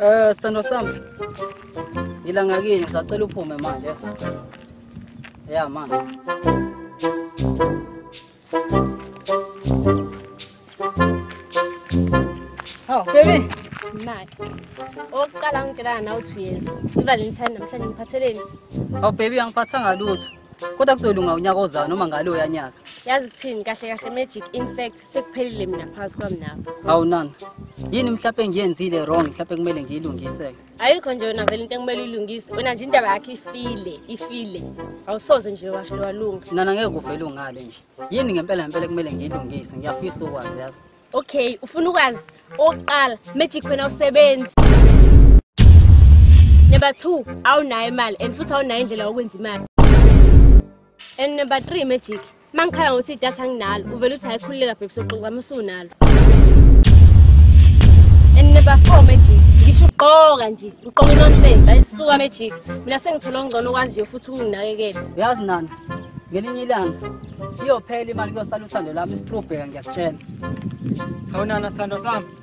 Eh sithandwa sami. Ngilanga kini ngisacela uphume manje. Ya manje. Haw baby. Mali. Oqala ngitshela nawe uthi uyeza. IValentine namhlanje ngiphatheleni. Haw baby angiphathanga lutho. Kodwa kuzolunga unyaka ozayo noma ngalo yanyaka. Yazi kuthini kahle kahle magic in fact sekuphelile mina phakathi kwami nawe hawu nana yini mhlawumpe engiyenzile wrong mhlawumpe kumele ngiyilungise-ke ayikho nje wena vele into ekumele uyilungise wena nje indaba yakho ifile ifile awusoze nje washo lowalunga nana ngeke kuvele ungale nje yini ngempela ngempela kumele ngiyilungise ngiyafisa ukwazi yazi okay ufuna ukwazi okokuqala magic wena usebenzi number two awunayo imali and futhi awunayo indlela yokwenza imali and number three magic Mangikhala ngokuthi idatha anginalo, uvela uthi hayikhululeka bhebhi soxoxa musunalo. And number 4 magic, ngisho ugqoka nje, ugqoka inonsense, ayisuka magic. Mina sengithola ongcono okwaziyo futhi ukunginakekela. Uyazi nani? Ngelinye ilanga iyophela imali kuyosala uthando lami isitrubheka ngiyakutshela. Awunana sando sami.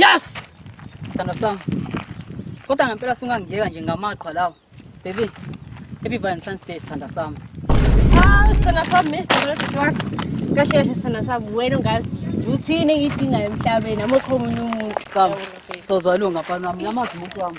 Yes! Sandra Sam. Kodwa ngempela sungangiyeka nje ngamaqhwa lawo. Baby, happy Valentine's Day Sandra Sam. Ah, Sandra Sam, me, kahle kahle Sandra Sam, wena ungazi uthini engidingayo emhlabeni amukho omunye umuntu. Sam, sozwa lunga mfana wami, namazi umuntu wami.